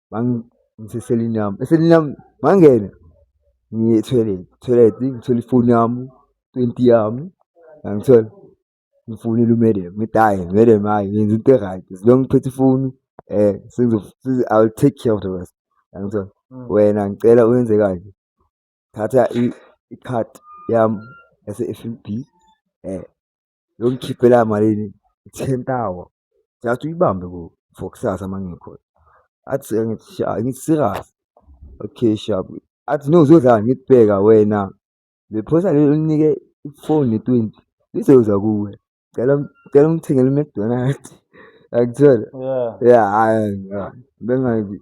ngiseselini yami eselini yami ngangena ngiye etoilet toilet ngithola ifoni yami twenty yami ngangithola ngifonile umadam ngithi hhayi madam hhayi ngenza into e-right as long ngiphethe ifoni um i will take care of the rest ngangithola mm. wena ngicela uyenze kanje thatha i-card yami yase-F_N_B um eh, Yongikhiphela malini? Ten thousand. Ngiyathi uyibambe ku for kusasa uma ngikhona. Athi ngithi sha ngithi serious. Okay sha. Athi no uzodlala ngithi bheka wena. Le phosa leli ulinike ifoni ne-twenty lizoza kuwe. Cela cela ungithengele uMcDonald's. Akuthola? Yeah. Yeah, hayi bengazi.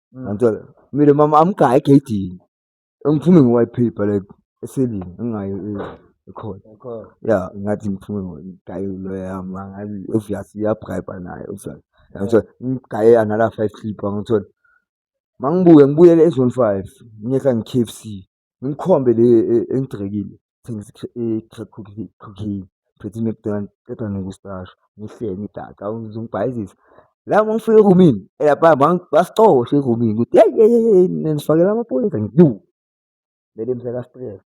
Mm. Ngantsola. Mina mama amgaya egedini. Engiphume nge-YP phela eselini engayo e- ekhona. Ekhona. Ya ngathi ngiphume ngigaya iloya yami ngathi obvious iyabribe naye obvious. Ngantsola ngigaye another 5 clip ngantsola. Mangibuye ngibuyele e-zone 5 ngiyeka nge-KFC. Ngikhombe le e, engigcekile thengisa i-crack cocaine phethe i-mcdonald qeda nokusasho ngihlele ngidaka uzongibhayizisa la mangifika erumini eyabha basicoshe erumini ukuthi yeyi yeyi yeyi nifakela amaphoyisa ngidu mele mseka stress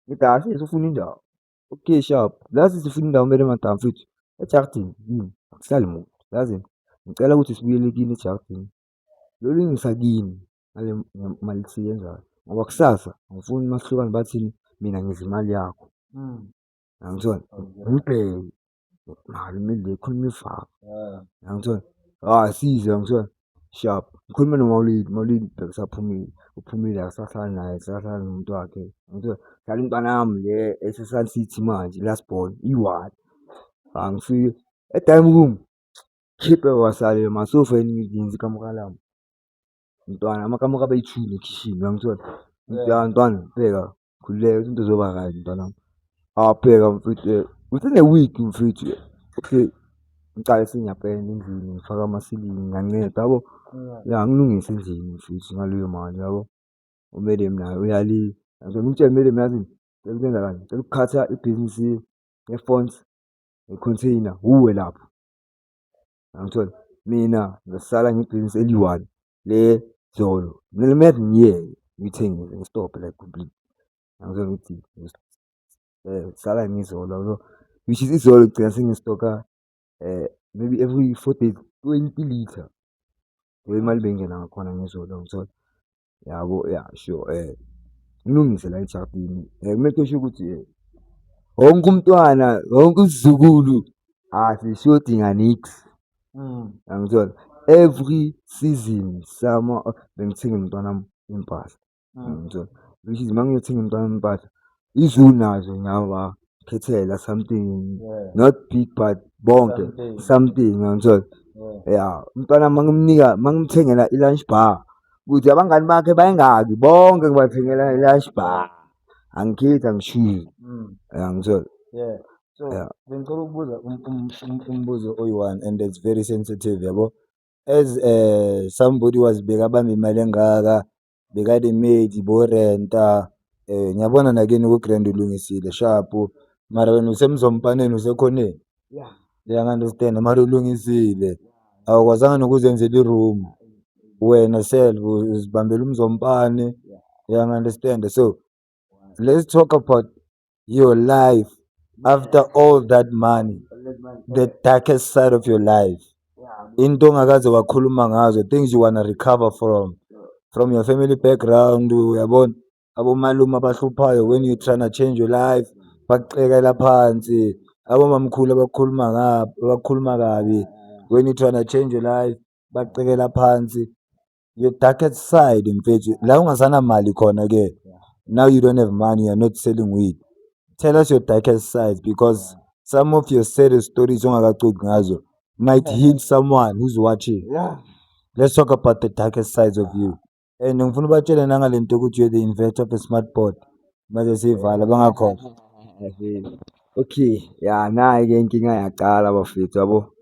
ngidase sifuna indawo okay sharp lazi sifuna indawo mele madam futhi ejardini yini akuhlali muntu yazi ngicela ukuthi sibuyele kini ejardini lolu ngisa kini ngale mali esiyenzayo ngoba kusasa angifuni uma sihlukana bathini mina ngidla imali yakho hmm. yangithola ngibheke mali kumele ngikhulume ifaka yangithola hayi size yangithola sharp ngikhulume nomawulidi mawulidi bheka usaphumile uphumile akasahlali naye akasahlali nomuntu wakhe yangithola dlala intwana yami le esesun city manje last born iwani angifike e-dining room khiphe wasalile masofa yini ngiyenza ikamukalami Mntwana amakamu kabayithini ekhishini uyangithola. Ya mntwana bheka khululeka ukuthi into zoba right mntanami. Ah bheka mfethu eh, within a week mfethu eh, okay ngiqale sengiyapenda endlini ngifaka amasilingi ngiyanceda yabo. Ya ngilungise endlini mfethu ngaleyo mali yabo. UMadam naye uyali ngicela umtshele uMadam yazini cela ukwenza kanje cela ukukhatha ibhizinisi ye-fonts ne-container wuwe lapho. Angithola mina ngisala ngibhizinisi eliyi-one le zolo kumele uma ngiyeke ngiyithengise ngistobhe like completely. Angithola ukuthi ngisala ngizolo yabo, which is izolo ngigcina sengistokha maybe every four days twenty litre. Yimali beyingena ngakhona ngezolo angithola. yabo ya sure um ulungisela ejardini um kumele kusho ukuthi um wonke umntwana wonke usizukulu asishodi nganix mm. yangithola every season sama bengithenga umntwana wami impahla mm. yangithola which is uma ngiyothenga umntwana wami impahla izulu nazo ngiyabakhethela something Yeah. not big but bonke Something. something ngiyangithola Yeah. ya umntwana mangimnika mangimthengela i-lunch bar ukuthi abangani bakhe bayengaki bonke ngibathengela i-lunch bar angikhethi angishiyi Mm. yangithola Yeah. So Yeah. bengicela ukubuza um- um- um- umbuzo oyi-one and it's very sensitive yabo. As eh somebody wazibeka bamba imali engaka beka the maid bo rent-a ngiyabona nakini ku-grand ulungisile shapu mara wena usemzompaneni usekhoneni uyangi-understand-a mara ulungisile awukwazanga nokuzenzela i-room wena self uzibambela umzompani uyangi-understand-a so. let's talk about your life after all that money the darkest side of your life into ongakaze wakhuluma ngazo things you wanna recover from from your family background uyabona abomalume abahluphayo when you tryna change your life bakucekela phansi abomamkhulu abakhuluma abakhuluma kabi when you tryna change your life bakucekela phansi your darkest side mfethu la ungasanamali khona ke now you don't have money you're not selling weed tell us your darkest side because some of your saddest stories ongakacoki ngazo might heal someone who's watching yeah. let's talk about the darkest sides of you and ngifuna ubatshele nangale nto ukuthi you're the inventor of a smart board manje siyivala bangakhohlwa okay ya nayi-ke inkinga yaqala bafethu yabo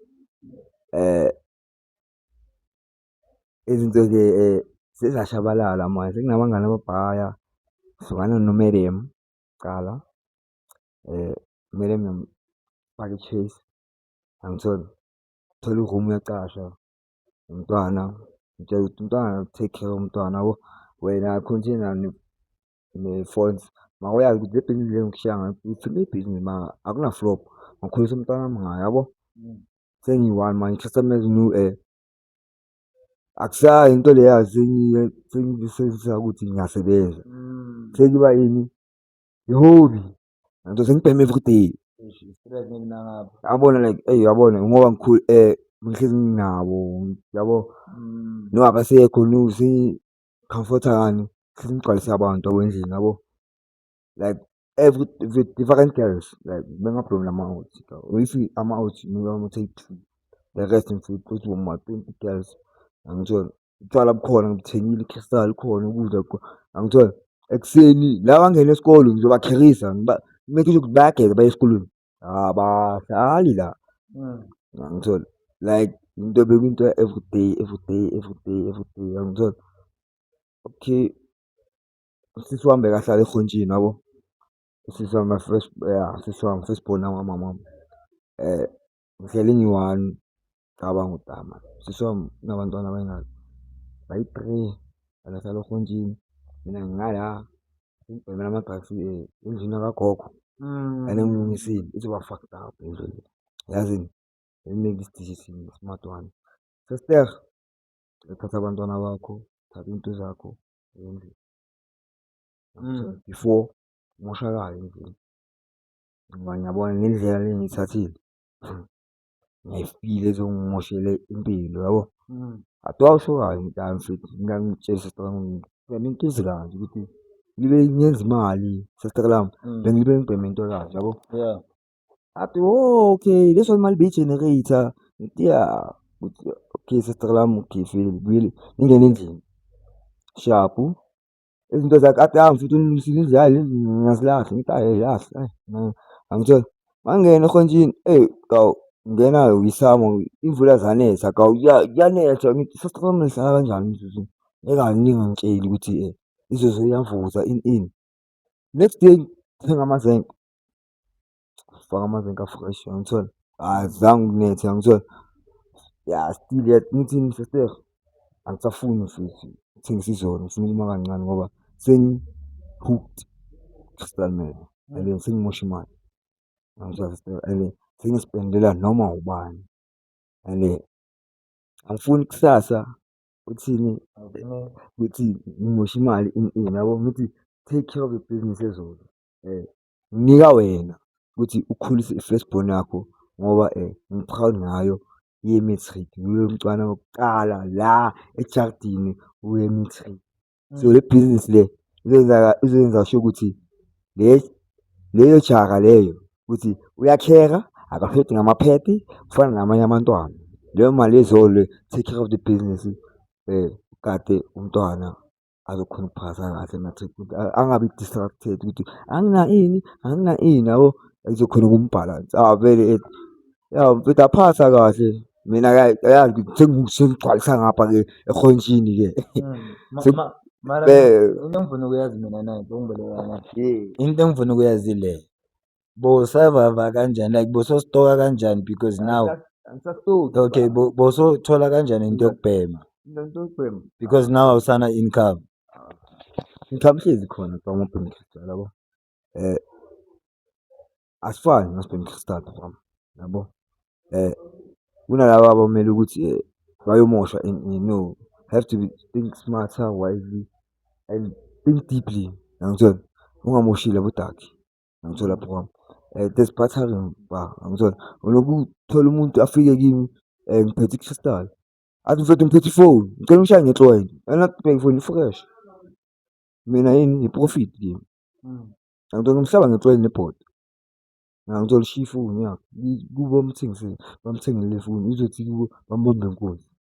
um izinto-ke sezashabalala manje sekunabangani ababhaya hlukana noMeryem kuqala uMeryem uyamfaka i-chase angitholi, thola i-room uyacasha nomntwana umtshele ukuthi umntwana take care yomntwana yabo. Wena continue ne-phones mawuyazi ukuthi le bhizinisi le engikushiya ngayo ngithole ibhizinisi mara akuna-flop ngikhulisa umntwana wami ngayo yabo, sengiyi-one manje i-customer is new . akusayi into leya sengiyisebenzisa ukuthi ngiyasebenza mm. sekuba yini ihobi nto sengibheme everyday yabona like eyi yabona ngoba ngikhulu um eh, ngihlezi nginabo yabo mm. no abasekho no sengicomforta kani hlezi ngigcwalise abantu yabo endlini yabo like every with different girls like bengablom lama-out if ama-out ngiwamothe-two the rest ngifike kuthi woma-twenty girls angithole utshwala bukhona ngithengile i-crystal khona ukudla angithole ekuseni la bangena esikolweni ngizobakherisa make sure ukuthi bayageza baye esikolweni abahlali la hmm. angithole like into bekuyinto everyday everyday everyday everyday angithole okay Usisi wami bekahlala eGontshini yabo, usisi wami first ya usisi wami first born kamama wami ngihleli ngiyi-one ngicabanga ukuthi hhayi mani usisi wami unabantwana abayingaki, bayi-three bahlala eGontshini mina ngingala ngibhemela ama-drugs endlini yakagogo and engilungisile ithi ukuba fucked up indlu le yazini smart one. Sister thatha abantwana bakho, thatha iy'nto zakho endlini mm. before kumoshakale endlini ngoba ngiyabona ngendlela le ngiyithathile mm. ngiyayifile ezongimoshele impilo yabo mm. athi wawusokayo mntana futhi mina ngitshela sister wami ngibheme into ezikanje ukuthi ngibe ngenza imali sister lami bengibe ngibheme into kanje yabo athi oh, okay leso imali beyi-generator ngithi ya okay sister lami ukhifile ngibuyile ngingena endlini shapu izinto zakhe athi ahambe futhi unisile izidlali ngiyazilahla ngithi ayi yilahla angitshela mangena ehonjini eyi kawu ngena uyisamo imvula zanetha kawu kuyanetha ngithi sister lami nihlala kanjani mzuzu ekaningi ngitsheli ukuthi um izoze iyavuza ini ini next day thenga amazenge Faka amazinga fresh angithola. Hayi zange ukunethe angithola. Ya still yet ngithini sister? Angisafuni futhi ukuthengisa izolo ngifuna ukuma kancane ngoba sengi-hooked crystal meth and then sengimosha imali. Angithola sister and sengispendela noma ubani and angifuni kusasa uthini ukuthi ngimosha imali ini ini yabo ngithi take care of your business ezolo . Nginika wena ukuthi ukhulise i-first born yakho ngoba ngi-proud ngayo ye-matric, nguye umntwana wokuqala la ejaridini owe-matric. So, le bhizinisi le izoyenza sho ukuthi le leyo jara leyo ukuthi uyakheka, akashodi ngamaphedi ufana namanye amantwana. Leyo mali take care of the business ugade umntwana. azokhona ukuphasa kahle matric ukuthi angabi distracted ukuthi angina ini angina ini yabo izokhona ukumbhalansa avele ethi ya mfethu aphasa kahle mina yazi sengigcwalisa ngapha ke ehontshini ke hmm. into engifuna ukuyazi mina nayo into engifuna ukuyazi le Bowusavava kanjani like bowusostoka kanjani because now Angisastoki. okay bo- bowusothola kanjani into yokubhema Into yokubhema. because now awusana income income hlezi khona from ubhema crystal yabo eh asifani nasibhema crystal from yabo eh kunalabo abamele ukuthi eh, bayomosha in, in, no have to be, think smarter wisely and think deeply yangithola ungamoshile bodaki ngithola lapho kwami um there's bathroom ba angithola ulokhu uthola umuntu afike kimi um ngiphethe ikhristal athi mfethu ngiphethe ifoni ngicela ungishaye ngetlwayi anabheke ifoni ifresh mina yini yiprofit kimi hmm. angithola umhlaba ngetlwayi nebhoda ngangithola ishiya ifoni yakho kubo bamthengisele bamthengele ifoni izothi kubo bambambe nkunzi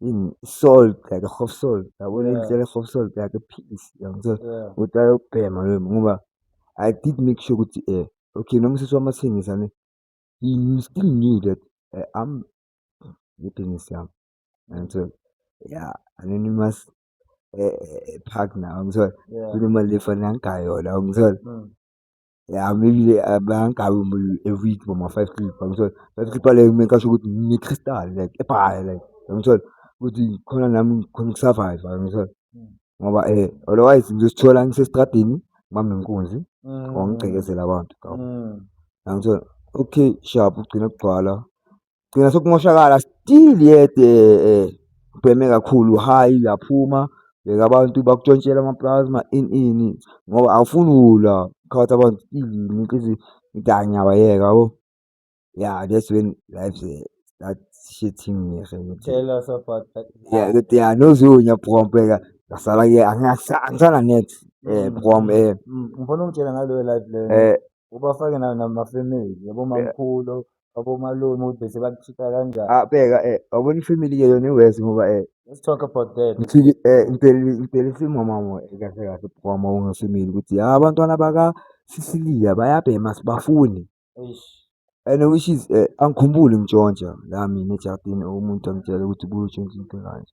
in salt like a half salt yabona yeah. indlela half salt like a piece yangithola yeah. ukuthi ayokubhema loyo ngoba i did make sure ukuthi eh okay noma usisi wami athengisa ne he still knew that uh, i'm ngibusiness yami yangithola yeah and then you must eh, eh, eh park now ngithola kunemali lefanele angigayona ngithola mm. Ngihamile bangabi umuntu every week boma five clip yangithola. Five clip yaleyo kumele ngiqashe ukuthi ngine-crystal like ebhayi like yangithola, ukuthi khona nami ngikhone uku-survive-a yangithola. Ngoba otherwise ngizozithola ngisestradini ngibambe nkunzi or ngigqekezele abantu yangithola. Okay sharp kugcine kugcwala. gcina sokumoshakala still yet eh ubheme kakhulu high uyaphuma bheka abantu bakutshontshela amaplasma ini ini ngoba awufuni ulwa phakathi abantu still umuntu ithi ngidanya wayeka yabo yeah that's when life start shitting me tell us about that yeah ukuthi yeah nozunya bhrompeka ngasala ke angisana net eh bhrom eh ngifuna ungitshela ngaleyo life leyo eh ubafake na- namafemeli yabo mamkhulu abomalume ukuthi bese bakuchitha kanjani Ah, bheka eh wabona ifamily ke yona iwesi ngoba eh let's talk about that ngifike eh impela impela isimo mama eh, kahle kahle kwama ungasimili ukuthi ah abantwana baka Sicilia bayabhema sibafuni Eish. and which is eh angikhumbuli ngitshontsha la mina eJardini umuntu angitshela ukuthi kuyotshontsha into kanje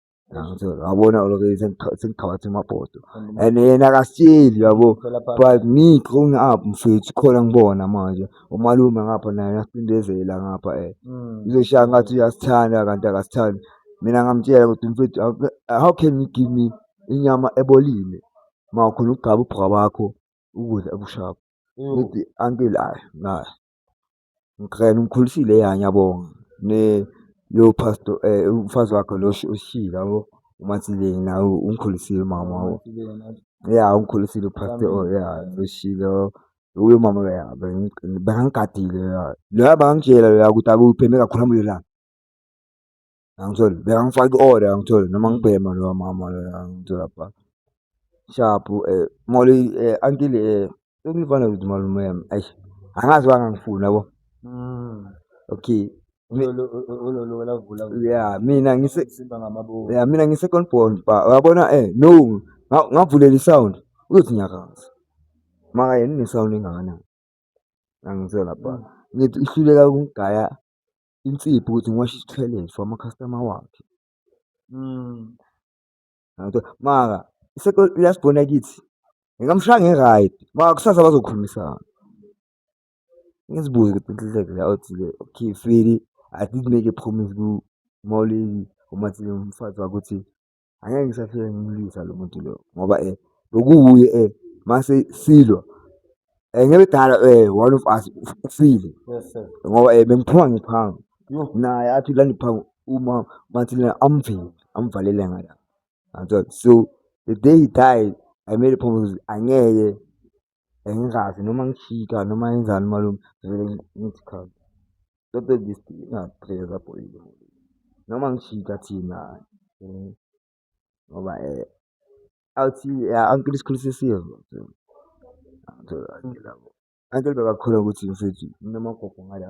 yabona lokho sengigqabatha emabhodo and yena akasitsheli yabo but me growing up mfethu khona ngibona manje umalume ngapha naye uyasicindezela ngapha eh mm. uzoshaya ngathi uyasithanda kanti akasithandi mina ngamtshela ukuthi mfethu how can you give me inyama ebolile ma ukhona ukugqaba ubhuka bakho ukudla ebushaphu mm. ngithi ankile ayi naye Ngikrena umkhulisile ya ngiyabonga ne yo pastor umfazi wakho lo ushilo yabo uMathileni nawe ungikhulisile umama wabo ya ungikhulisile upastor oh ya ushilo uyo mama ya bengigadile ya loya bangitshela loya ukuthi akuphi mekakhuluma lelanga Angitholi. Bekangifaka i-order angitholi noma ngibhema lowa mama loya angitholi lapha. Sharp eh molo eh until eh sengifana ukuthi malume yami. Eish. Angazi wangangifuni yabo. Mm. Okay. Ulolo lavula. Yeah, mina ngise simba ngamabovu. Yeah, mina ngise second born ba. Uyabona eh no nga- ngavulela i-sound uyothi nyakaza. Maka yena ne-sound engakanani. Angitholi lapha. Ngithi ihluleka ukungigaya insipho ukuthi ngiwashe i-toilet for ama-customer wakhe. Mara uyasibona kithi, ngingamushaya ngi-right mara kusasa bazokhulumisana. Ngizibuze ukuthi inhliziyo yakhe la uthi le okay sweety I did make a promise ku-Molly, uMathile umfazi wakho, ukuthi angeke ngisafike ngimlwisa lo muntu lo ngoba um bekuwuye um mase silwa um ngebedala um one of us ufile ngoba um bengiphuma ngiphanga naye athi la ndiphango uma mathilena amvile amvalele ngala so the day he died i made a promise angeke Angikaze noma ngishika noma ngenzani umalume ngivele ngithi khona lento ngiyidinga phela noma ngishika thina ngoba awuthi uncle sikhulise siyezwa uncle bekakhuluma ukuthi mfethu nginamagugu ngala.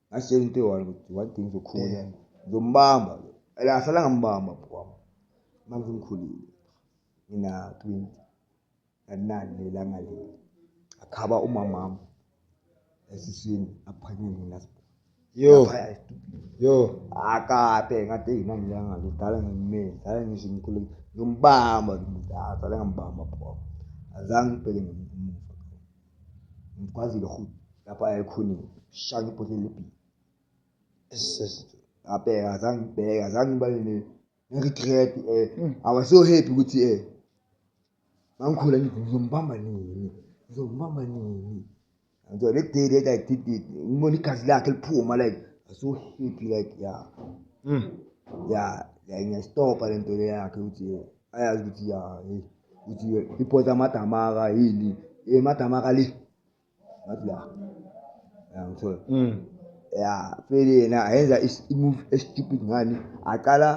ngasitshela into eyi-one ukuthi one thing zokhula ngizombamba la sala ngambamba bhukwami manje ngikhulile ngina twenty nginani lelanga leli akhaba umamami esiswini aphanyeni last yo yo akape ngathi yina ngilanga ngidala ngimile dala ngisho ngikhulu ngimbamba ngidala ngambamba bhukwami azange ngibheke ngemuva ngikwazile futhi lapho ayekhonile shaya ibhodlela lebhili ngabheka azange ngibheke azange ngiba ne-regret um eh, mm. i was so happy ukuthi um eh, mangikhula ngithi ngizombamba nini ngizombamba nini so le day that i did it ngibona igazi lakhe liphuma like i so happy like ya mm. ya like ngiyastopa le nto le yakhe ukuthi eh, ayazi ukuthi ya hey ukuthi iphotha amadamaka yini emadamaka eh, le ngathi la yangithola mm ya pheli yena ayenza i-move estupid ngani aqala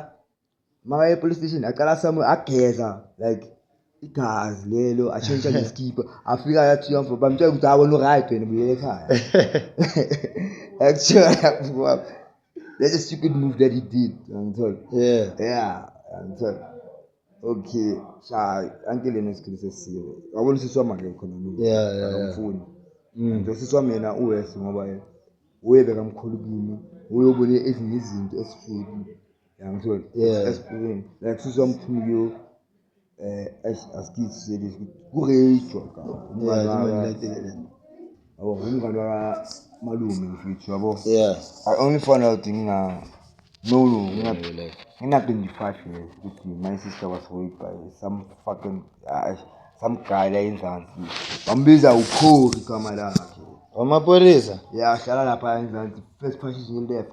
makaye epolice station aqala samu ageza like igazi lelo ashintsha nesikipa afika yathi yamfo bamtshela ukuthi awona uright wena buyele ekhaya actually That's a stupid move that he did. Angitholi. Yeah. Yeah, angitholi. Okay, sha anke lena isikhulu sesiwe. Wabona usisi wami ke khona mina. Yeah, yeah, yeah. Akamfuni. Mm. Nje usisi wami yena uwes ngoba yena uye bekamkhulu kimi. Uye ubone ezinye izinto esifuthi. Angitholi. Yeah. Esiphilweni. Like usisi wami phuma kuyo. eh eish asikithi serious kurejwa ka yabo ngumngane wa malume mfethu yabo yeah i only found out ngina no no ngina ngina 25 years ukuthi my sister was raped by some fucking uh, some guy la enzansi bambiza ukhori igama lakhe wamapolisa yeah hlala lapha enzansi first position left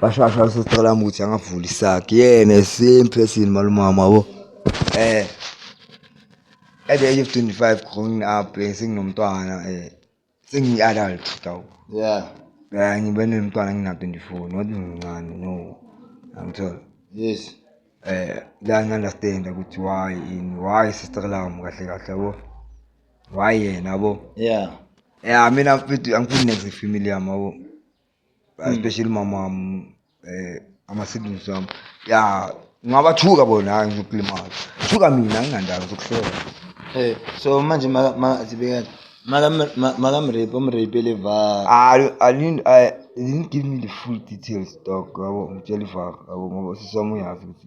bashasha sesicela ukuthi angavuli isakhe yena same person malumama yabo eh at the age of 25 growing up eh, senginomntwana eh sengiyi-adult dawu yeah yeah ngibe nomntwana ngina-24 not mncane no angithola yes eh la ngi-understanda ukuthi why in why sister lam kahle kahle yabo why yena yabo yeah yeah mina mfethu angifuni next family yami yabo Hmm. especially mama wam um eh, ama-siblings wam ya ngabathuka bona hayi ngizokulimaza thuka mina nginandaba zokuhlola Eh, so manje maka- maka- zibe kanje. Maka- ma- makamrape umrapele va I, I didn't I they didn't give me the full details dog yabo ngitshela ivaka yabo ngoba usisi wami uyazi ukuthi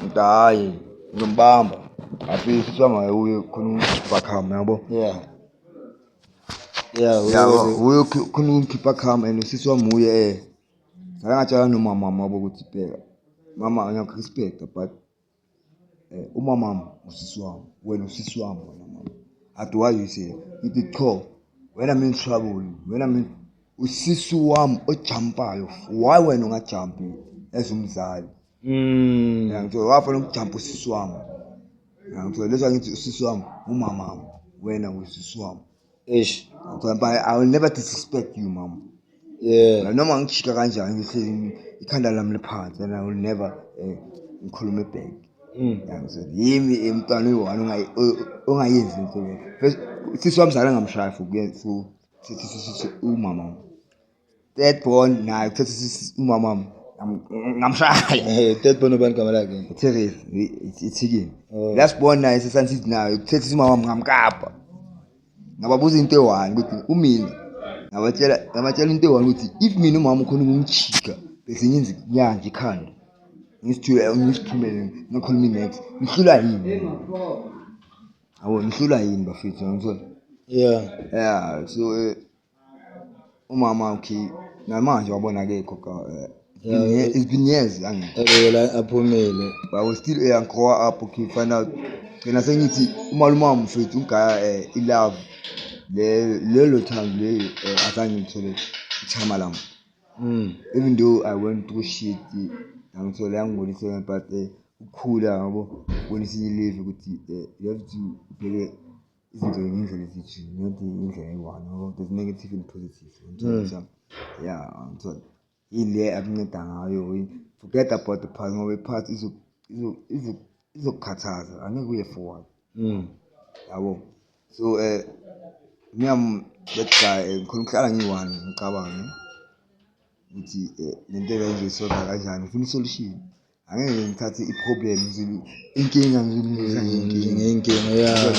Ngithi hhayi ngizombamba afise kuthiwa mayewuye khona ubakhama yabo yeah yeah yabo uye khona umkhipha khama and usisi wami wuye eh akangatshela nomama wami wabo ukuthi bheka mama ngiyakurespecta but um umamami usisi wami wena usisi wami wena mama athi why you say ngithi qho wena mina uswabuli wena mina usisi wami ojampayo why wena ungajampi as umzali mm yangithola wafana ukujampa usisi wami yangithola lesa ngithi usisi wami umama wami wena usisi wami eish ngithola but i will never disrespect you mama yeah noma ngijika kanjani ngihlezi ikhanda lami liphansi and i will never eh, ngikhulume back mm. yangithola yimi emntwana uyi-one ongayenzi into sisi wamzala ngamshaya for umama Third born naye uthethe umama ngamshaya. Eh, third born ubani igama lakhe? Therese, ithikini. Oh. Last born naye sesansithi naye uthethe umama ngamkapa. Ngababuza into eyi-one ukuthi umina ngabatshela ngabatshela into eyi-one ukuthi if mina umama ukhona ukumjika bese ngenza inyanja ikhanda ngisithule ngisithumele ngakhuluma inex ngihlula yini awu ngihlula yini bafethu ngithola yeah yeah so eh, umama ukhi namanje wabona akekho ka eh, Yeah. it's been years angekho ebekela aphumile but I was still a young grow up okay find out ngena sengithi umalume wami mfethu ugaya eh, ilove le lelo thando le eh, azange ngithole ichama lami Mm. even though I went through shit angithole angibonise but eh, ukukhula yabo bonisa ileve ukuthi eh, you have to ubheke izinto ngendlela ezithi not indlela eyi-one ngoba there's negative and positive ngithola mm. ya ngithola ile akunceda ngayo forget about the past ngoba i-past izokukhathaza angeke uye forward mm. yabo so um eh, miyam that guy eh, ngikhona ukuhlala ngiyi-one ngicabange ukuthi eh, le nto ebengizoyisolva kanjani ngifuna isolution angeke ngithathe i-problem inkinga ngiyilungisa ngenkinga